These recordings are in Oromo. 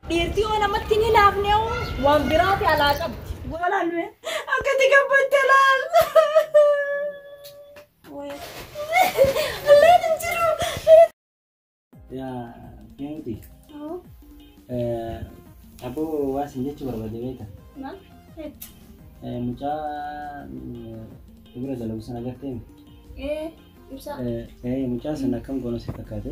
Dhiirtii yoo namatti hin hinaafne waan biraati alaa qabdi. Goolaan nuyi akkati gabbatte laal. Allaan hin jiru. Yaa Feenki. Aboo waa sin jechuu barbaade beekta. Maal? Mucaa bira dalagu sana agartee? Ee ibsaa. Mucaa sana akkam goona si fakkaate?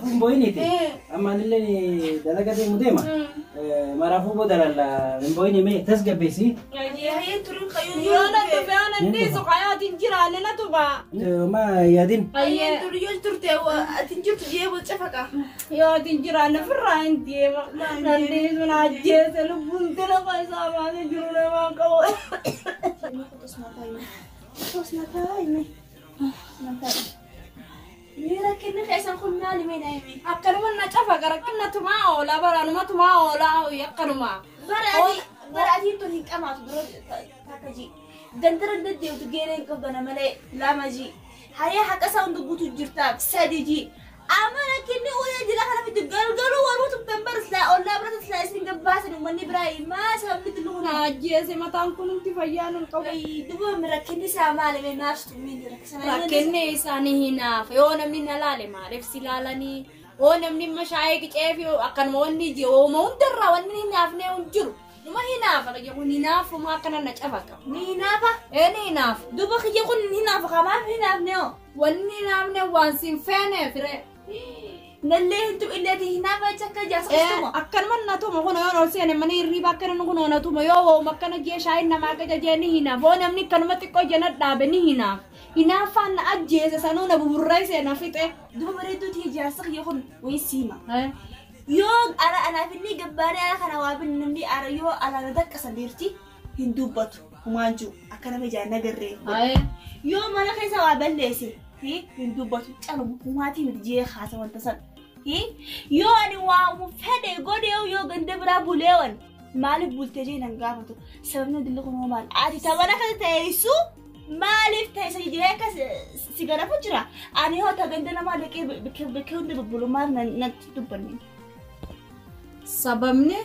Kun boyiniiti. Amma anillee dalaga deemu deema. Maraafuu booda lalla hin boyini mee tasgabbeessi. Ma yaadin. Akkanuma na cafa rakkinna tumaa oola baraanuma tumaa oola hawwi akkanuma. Bara adiin tun hin qamaatu dura takka ji. Gandara deddeemtu geereen qabdana malee lama ji. Hariyaa haqa isaa hundi guutuu jirtaaf sadi ji. Amma rakkinni uuya jira kana miti galgaluu waruu tubben bar silaa ollaa bira silaa isin gabbaasan uummanni biraa maa sababni tullu kun Na ajjeese mataan kun hundi fayyaa nun qabu. Wayii duboomni rakkinni isaa maali mee maaf tummiin rakkisana Rakkinni isaanii hinaafa. Yoo namni na laale maaliif si laalanii? Yoo namni mashaayee qicee fi akkanuma wanni ije hooma hundarraa wanni hin hinaafne hin jiru. Numa hinaafa kiyya kun hinaafuma akkana na cafa qaba. Ni hinaafa Ee ni hinaafa. duba kiyya kun hin hinaafa kamaaf hin hinaafne hoo Wanni naamne waan siin feeneef ree. Nallee hedduu illee diinaa baay'ee akka ijaasa dhistuma. Akkanuma natuma kun yoo ol seene mana hirriiba akkana kun yoo natuma yoo hooma akkana jee shaayiin namaa akka jajee ni hinaaf. Hoo namni akkanuma xiqqoo jena dhaabe ni hinaaf. Hinaaffaan na ajjeese sanuu na buburree seena fixe. Duba bareedduu tiyya jaarsa kiyya kun wayii siima. Yoo ala anaaf inni gabbaaree ala kana waa binni namni ala yoo ala na daqqasa beerti. hin dubbatu humaan jiru akka nama ijaan nagarree Aye. yoo mana keessa waa balleesse hi hin dubbatu caluma humaatii miti jee haasa wanta san hi yoo ani waamu fedhe godhee yoo ganda biraa buleewan maaliif bultee jee nan gaafatu sababni dilli kun hoo maal ati tabana akka teessu maaliif teessa jee akka si- si garafu jira ani hoo ta ganda namaa dhaqee bakkee hunda bubbulu maaf nan- natti dubbanne Sababni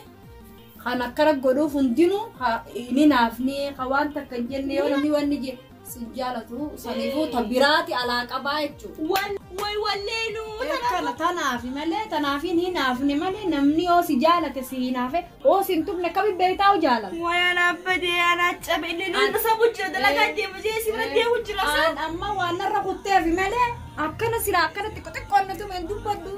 kan akkana godhuuf hundinuu ka hin hinaafne ka waan takka hin jenne yoo namni wanni je si hin jaalatu saniifuu ta biraati alaa qabaa jechuudha. Wal way walleenu Akkana tanaafi malee tanaafi hin hinaafne malee namni yoo si jaalate si hinaafe yoo si hin tuqne akkamitti beektaa yoo jaalatu. Wayaan abbadee anaa cabe inni An- nama sabu jira dalagaa deemu jee si bira deemu jira Aan amma waan narra kutteefi malee akkana silaa akkana xiqqo xiqqoon na tume hin dubbadhu.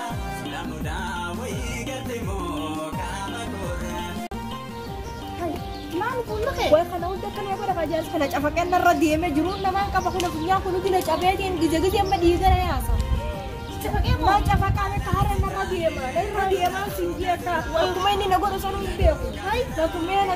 Way kana hunda kan yoo godha kajaas kana cafaqee narra deemee jiruun namaan qaba kun afunyaan kun hundi na cabeetiin gija gija amma dhiigara yaasa. Cafaqee moo? Waan cafaqaan akka harree narra deema. Narra deemaan siin jeekaa. Akkuma inni na godhu sanuu hin beeku. Akkuma inni na